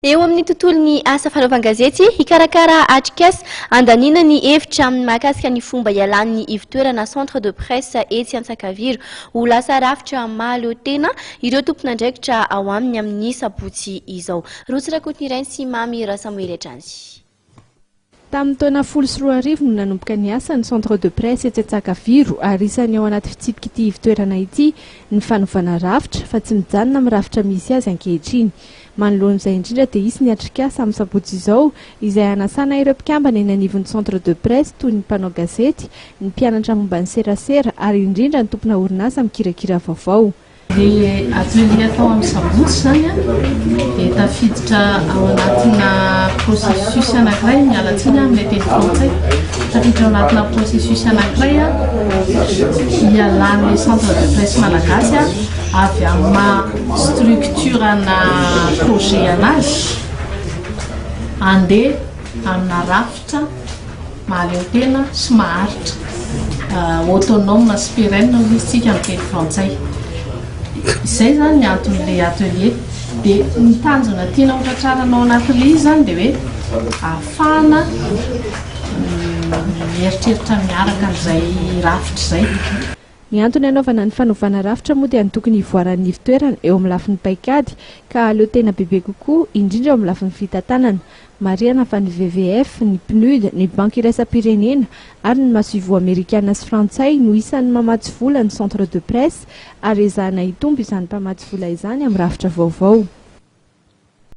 Eo amin'ny tontolon'ny asa fanaovan-gazety, hikarakara atrikasa handaniana ny hevitra aminy mahakasika ny fomba hialan'ny ivotoerana centre de presse etsy Antsakaviro ho lasa rafitra mahaleo tena ireo tompon'andraikitra ao aminy amin'ny sabotsy izao. Rotsy Rakotonirainy sy Mamy Rasamoely hatrany. Tamin'ny taona folo sy roa arivo no nanomboka niasa ny Centre de Presse etsy Antsakaviro ary isan'ny ao anaty fitsipik'ity ivotoerana ity ny fanovana rafitra fa tsy mijanona amin'ny rafitra misy azy ankehitriny. Manoloan'izay indrindra dia hisy ny atrikasa amin'ny sabotsy izao izay hanasana ireo mpikambana eny anivon'ny Centre de Presse toy ny mpanao gazety, ny mpianatra momba ny serasera ary indrindra ny tompona orinasa mikirakira vaovao. Ilay atelier atao amin'ny sabotsy izany dia tafiditra ao anatina processus anankiray, miala tsiny amin'ny teny frantsay, tafiditra ao anatina processus anankiray hialan'ny centre de presse malagasy avy amin'ny maha structure-na projet anazy handeha amina rafitra Mahaleo tena sy maharitra. Autonome sy pérenne hoy izy tsika amin'ny teny frantsay. Izay izany ny anton'ilay atelier. Dia ny tanjona tiana ho tratrarana ao anatin'ilay izy izany dia hoe ahafahana mieritreritra miaraka an'izay rafitra izay. Ny antony hanaovana ny fanovana rafitra moa dia ny tokony hivoaran'ny ivon-toerana eo amin'ny lafiny paikady ka hahaleo tena bebe kokoa, indrindra eo amin'ny lafiny fitantanana. Marihana fa ny WWF, ny PNUD, ny Banky Iraisam-pirenena ary ny Masoivoho Amerikana sy Frantsay no isan'ny mamatsy vola ny Centre de Presse ary ezahana hitombo izany mpamatsy vola izany amin'ny rafitra vaovao.